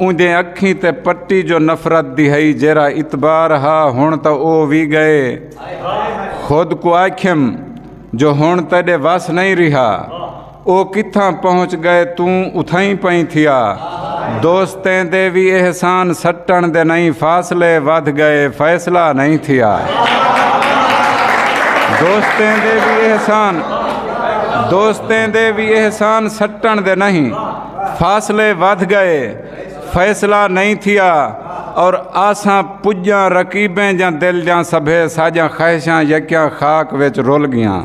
اوندیں اکھیں تے پٹی جو نفرت دی ہئی جیرھا اتبار ہا ہن تاں او وی گئے خود کوں آکھیم جو ہن تیڈے وس نئیں ریہا او کتھاں پہنچ گئے توں اتھائیں پئیں تھیا دوستیں دے وی احسان سٹن دے نئیں فاصلے ودھ گئے فیصلہ نئیں تھیا دوستیں دے وی احسان دوستیں دے وی احسان سٹن دے نہیں فاصلے ودھ گئے فیصلہ نہیں تھیا اور آساں پجاں رقیبیں جاں دل جاں سبھے ساجاں خواہشاں یکیاں خاک وچ رول گیاں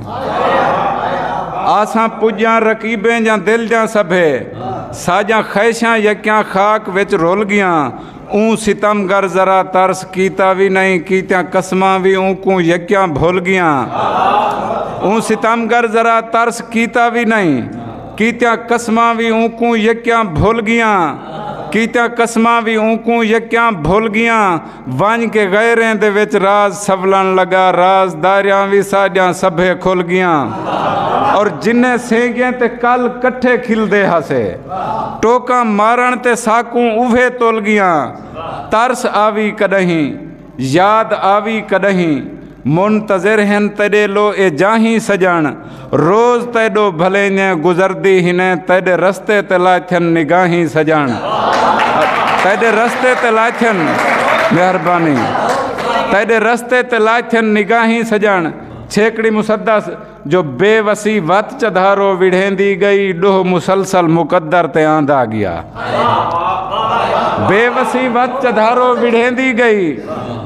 آساں پجاں رقیبیں جاں دل جاں سبھے ساجاں خواہشاں یکیاں خاک وچ رول گیاں اوں ستم گر ذرا ترس کیتا وی نہیں کیتیاں قسماں وی اوں کوں یکیاں بھول گیاں اوں ستم گر ذرا ترس کیتا وی نہیں کیتیاں قسماں وی اونکوں یکیاں بھل گیاں کیتیاں قسماں وی اونکوں یکیاں بھل گیاں ونج کے غیریں دے وچ راز سولن لگا راز داریاں وی ساڈیاں سبھے کھل گیاں اور جنہیں سینگیں تے کل کٹھے کھل دے ہسے ٹوکاں مارن تے ساکوں اوہے تول گیاں ترس آوی کدہیں یاد آوی کݙاہیں منتظر ہن تیݙے لو اے جاہیں سڄݨ روز تیݙو بھلینجیں گزردی ہنیں تیݙے رستے تے لاتھن نگاہیں سڄݨ تیݙے رستے تے لاتھن مہربانی تیݙے رستے تے لاتھن نگاہیں سڄݨ چھیکڑی مسدس جو بے وسی وت چدھارو وڑھیندی گئی ڈوہ مسلسل مقدر تے آندا گیا بے وسی وت چدھارو وڑھیندی گئی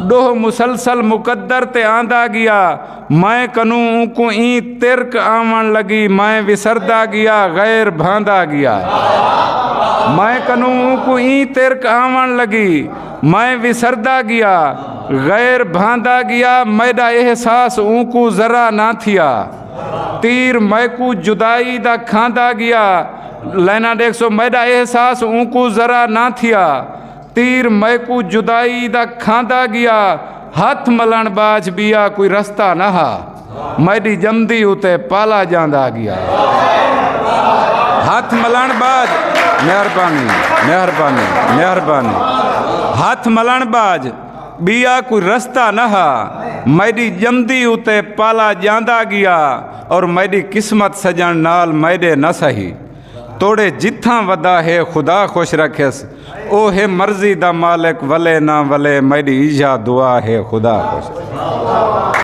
ڈوہ مسلسل مقدر تے آندا گیا میں کنوں انکو این ترک آمن لگی میں وسردا گیا غیر بھاندا گیا میں کنوں انکو این ترک آمن لگی میں وسردا گیا غیر بھاندا گیا میڈا احساس اونکو ذرا نہ تھیا تیر میکو جدائی دا کھاندا گیا لینا دیکھ سو میڈا احساس اونکو ذرا نہ تھیا تیر میکو جدائی دا کھاندا گیا ہتھ ملن باج بیا کوئی رستہ نہ ہا میڈی جمدی اتے پالا جاندا گیا ہاتھ ملان باج مہربانی مہربانی مہربانی ہاتھ ملان باج بیا کوئی رستہ نہ ہا میڈی جمدی اتے پالا جاندا گیا اور میڈی قسمت سجن نال میڈے نہ سہی توڑے جتھاں ودا ہے خدا خوش رکھس او ہے مرضی دا مالک ولے نہ ولے میڈی ایجا دعا ہے خدا خوش رکھس